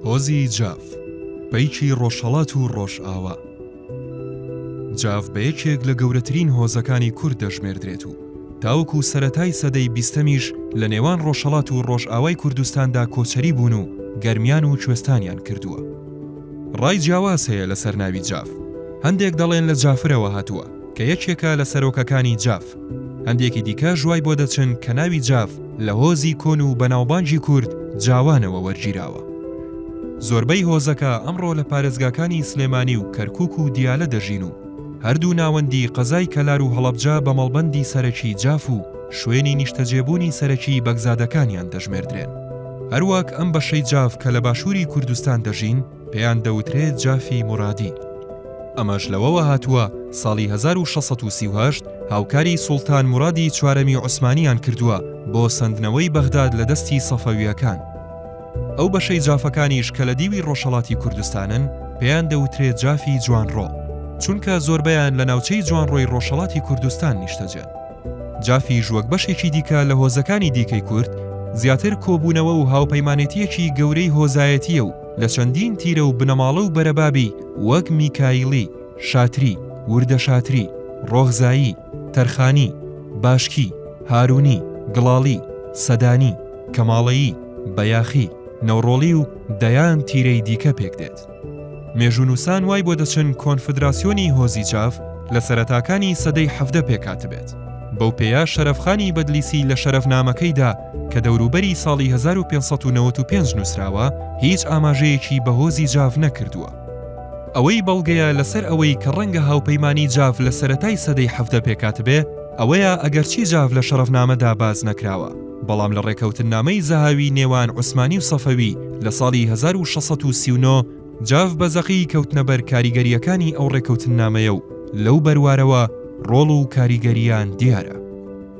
هۆزی جاف پەیکی ڕۆژهەڵات و ڕۆژئاوا جاف بە یەکێک لە گەورەترین هۆزەکانی کورد دەژمێردرێت و تاوەکو سەتای سەدەی بیستەمیش لە نێوان ڕۆژهڵات و ڕۆژئاوای کوردستاندا کۆچەری بوون و گەرمیان و کوێستانیان کردووە. ڕای جیاواز هەیە لەسەر ناوی جاف، هەندێک دەڵێن لە جافرەوە هاتووە، کە یەکێکە لە سەرۆکەکانی جاف. هەندێکی دیکە ژوای بۆ دەچن کە ناوی جاف لە هۆزی کۆن و بەناوبانگی کورد جاوانەوە وەرگیراوە. زۆربەی هۆزەکە ئەمڕۆ لە پارێزگاکانی سلێمانی و کەرکووک و دیالە دەژین و هەردوو ناوەندی قەزای کەلار و هەڵەبجە بە مەڵبەندی سەرەکی جاف و شوێنی نیشتەجێبوونی سەرەکیی بەگزادەکانیان دەژمێردرێن. هەروەک ئەم بەشەی جاف کە لە باشووری کوردستان دەژین، پێیان دەوترێ جافی مورادی. ئەمەش لەوەوە هاتووە ساڵی هەزار و شەش سەد و سی و هەشت هاوکاری سوڵتان مورادی چوارەمی عوسمانییان کردووە بۆ سەندنەوەی بەغداد لە دەستی سەفەوییەکان. ئەو بەشەی جافەکانیش کە لە دیوی ڕۆژهەڵاتی کوردستانن، پێیان دەوترێ جافی جوانڕۆ، چونکە زۆربەیان لە ناوچەی جوانڕۆی ڕۆژهەڵاتی کوردستان نیشتەجێن. جافیش وەک بەشێکی دیکە لە هۆزەکانی دیکەی کورد، زیاتر کۆبوونەوە و هاوپەیمانێتییەکی گەورەی هۆزایەتییە و، لە چەندین تیرە و بنەماڵە و بەرەبابی وەک میکایلی، شاتری، وردەشاتری، ڕۆغزایی، تەرخانی، باشکی، هارونی، گڵاڵی، سەدانی، کەماڵەیی، بەیاخی، نەوڕۆڵی و دەیان تیرەی دیکە پێک دێت. مێژوونووسان وای بۆ دەچن کۆنفدراسیۆنی هۆزی چاڤ لە سەرەتاکانی سەدەی حەڤدە پێکهاتبێت. بەو پێیە شەرەفخانی بەدلیسی لە شەرەفنامەکەیدا، کە دەوروبەری ساڵی هەزار و پێنج سەد و نەوەد و پێنج نووسراوە، هیچ ئاماژەیەکی بە هۆزی جاڤ نەکردووە. ئەوەی بەڵگەیە لەسەر ئەوەی کە ڕەنگە هاوپەیمانیی جاڤ لە سەرەتای سەدەی حەڤدە پێکهاتبێ، ئەوەیە ئەگەرچی جاڤ لە شەڕەفنامەدا باس نەکراوە، بەڵام لە ڕێکەوتننامەی زەهاوی نێوان عوسمانی و سەفەوی لە ساڵی هەزار و شەش سەد و سی و نۆ، جاڤ بە زەقی کەوتنە بەر کاریگەرییەکانی ئەو ڕێکەوتننامەیە و لەو بەروارەوە ڕۆڵ و کاریگەرییان دیارە.